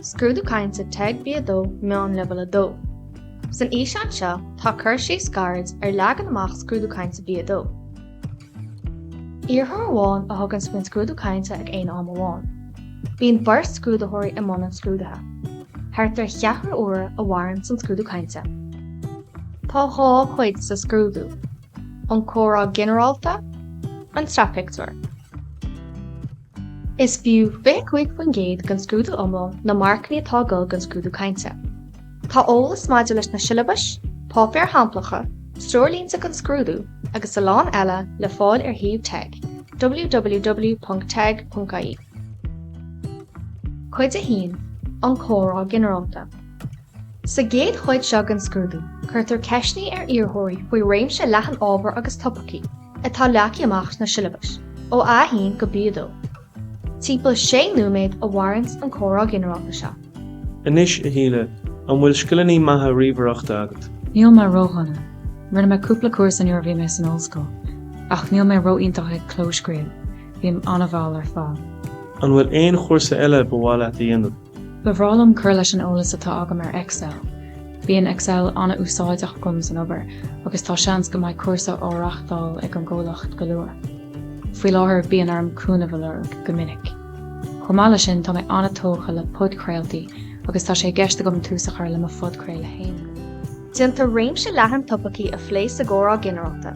Scrúdú Cainte teg B2 Meán Leibhéal 2 San fhíseán seo tá cur síos gairid ar leagan amach Scrúdú Cainte B2. Iarrthóir amháin a thugann faoin scrúdú cainte ag aon am amháin. Bíonn beirt scrúdaitheoirí i mbun an scrúdaithe. Thart ar cheathrú uaire a mhaireann an scrúdú cainte. Tá dhá chuid sa scrúdú, an comhrá ginearálta, an sraithphictiúr. Is fiú 25% den scrúdú iomlán na marcanna atá ag dul don scrúdú cainte. Tá eolas maidir leis na siollabais, páipéir shamplacha, treoirlínte don scrúdú agus a lán eile le fáil ar shuíomh teg, www.teg.ie. Cuid 1, An comhrá ginearálta Sa gcéad chuid seo den scrúdú, cuirtear ceisteanna ar iarrthóirí faoi réimse leathan ábhar agus topaicí. atá leagthaí amach sna siollabais ó A1 go B2, timpeall 6 nóiméad a mhaireanns an comhrá ginearálta seo. Anois, a Shíle, an bhfuil scileanna maithe ríomhaireachta agat? Níl mé ródhona. Rinne mé cúpla cúrsa nuair a bhí mé san ollscoil, ach níl mé ró-iontach ag clóscríobh, bím an-mhall ar fad. An bhfuil aon chúrsa eile ba mhaith leat a dhéanamh? Ba bhreá liom cur leis an eolas atá agam ar Excel. Bíonn Excel an-úsáideach agam san obair agus tá seans go mbeidh cúrsa á reáchtáil ag an gcomhlacht go luath. Faoi láthair bíonn orm cúnamh a lorg go minic. Chomh maith leis sin tá mé an-tógtha le podchraoltaí agus tá sé i gceist agam tús a chur le mo phodchraoladh fhéin. Déantar réimse leathan topaicí a phlé sa gcomhrá ginearálta,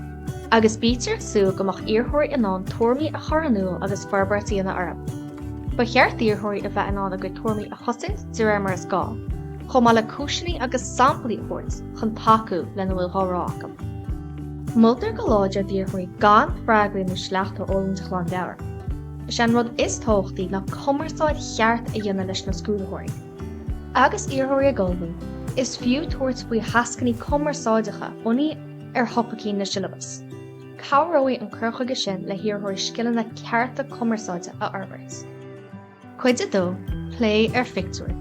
agus bítear ag súil go mbeadh iarrthóirí in ann tuairimí a chur in iúl agus forbairt a dhéanamh orthu. Ba cheart d'iarrthóirí a bheith in ann a gcuid tuairimí a chosaint de réir mar is gá, chomh maith le cúiseanna agus samplaí a thabhairt chun tacú lena bhfuil dhá rá acu. Moltar go láidir d'iarrthóirí gan freagraí nó sleachta a fhoghlaim de ghlanmheabhair. Is é an rud is tábhachtaí ná cumarsáid cheart a dhéanamh leis na scrúdaitheoirí. Agus iarrthóirí ag ullmhú, is fiú tabhairt faoi thascanna cumarsáideacha bunaithe ar thopaicí na siollabas. Cabhróidh an cur chuige sin le hiarrthóirí scileanna cearta cumarsáide a fhorbairt. Cuid a dó, Plé ar phictiúir.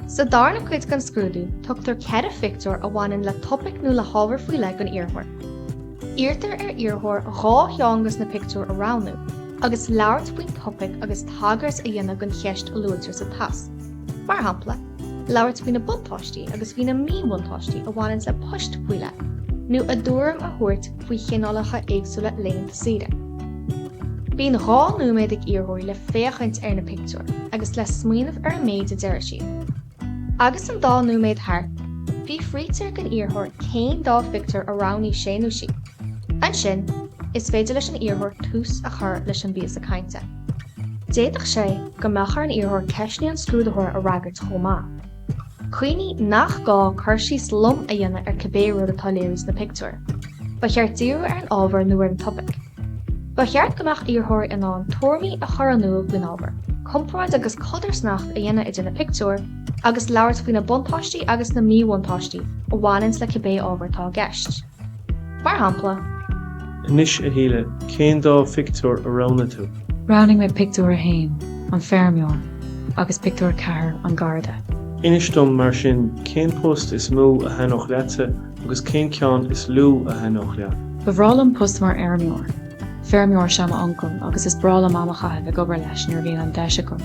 Sa darna cuid den scrúdú, tugtar ceithre phictiúr a bhaineann le topaic nó le hábhar faoi leith don iarrthóir. Iarrtar ar iarrthóir dhá cheann de na pictiúir a roghnú, agus labhairt faoin topaic agus tagairt a dhéanamh don cheist a luaitear sa tasc. Mar shampla, labhairt faoi na buntáistí agus faoi na míbhuntáistí a bhaineanns le poist faoi leith, nó a dtuairim a thabhairt faoi chineálacha éagsúla laethanta saoire. Bíonn dhá nóiméad ag iarrthóirí le féachaint ar na pictiúir agus le smaoineamh ar an méid a déarfaidh siad. Agus an dá nóiméad thart, fiafraítear den iarrthóir céin dá phictiúr a roghnaigh sé nó sí. Ansin, is féidir leis an iarrthóir tús a chur leis an bpíosa cainte. D'fhéadfadh sé go mbeadh ar an iarrthóir ceisteanna an scrúdaitheora a fhreagairt chomh maith. Cuimhnigh nach gá cur síos lom a dhéanamh ar cibé rud atá á léiriú sna pictiúir. Ba cheart díriú ar an ábhar nó ar an topaic. Ba cheart go mbeadh iarrthóirí in ann tuairimí a chur in iúl faoin ábhar, comparáid agus codarsnacht a dhéanamh idir na pictiúir, agus labhairt faoi na buntáistí agus na míbhuntáistí a bhaineann le cibé ábhar atá i gceist. Mar shampla. Anois, a Shíle, cén dá phictiúr a roghnaigh tú? Roghnaigh mé pictiúr a haon, an feirmeoir, agus pictiúr a ceathair, an garda. Inis dom, mar sin, cén post is mó a thaitneodh leatsa Agus cén ceann is lú a thaitneodh leat? Ba bhreá liom post mar fheirmeoir. Feirmeoir is ea m'uncail agus is breá liom am a chaitheamh ag obair leis nuair a bhíonn an deis agam.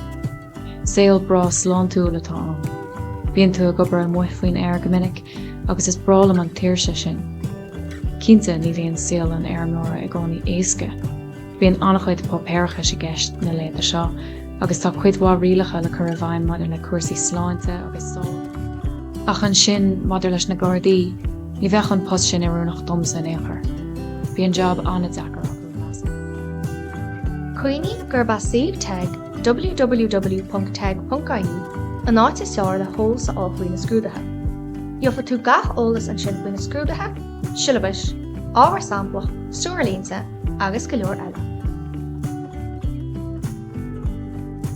Saol breá sláintiúil atá ann. Bíonn tú ag obair amuigh faoin aer go minic agus is breá liom an tsaoirse sin. Cinnte, ní bhíonn saol an fheirmeora i gcónaí éasca. Bíonn an-chuid páipéarachais i gceist na laethanta seo agus tá cuid mhaith rialacha le cur i bhfeidhm maidir le cúrsaí sláinte agus sábháilteachta. Ach ansin, maidir leis na Gardaí, ní bheadh an post sin oiriúnach domsa in aon chor. Bíonn jab an-deacair acu, measaim. Cuimhnigh gurb é suíomh TEG, www.teg.ie, an áit is fearr le heolas a fháil faoi na scrúduithe. Gheofaidh tú gach eolas ansin faoi na scrúduithe, siollabais, ábhar samplach, treoirlínte agus go leor eile.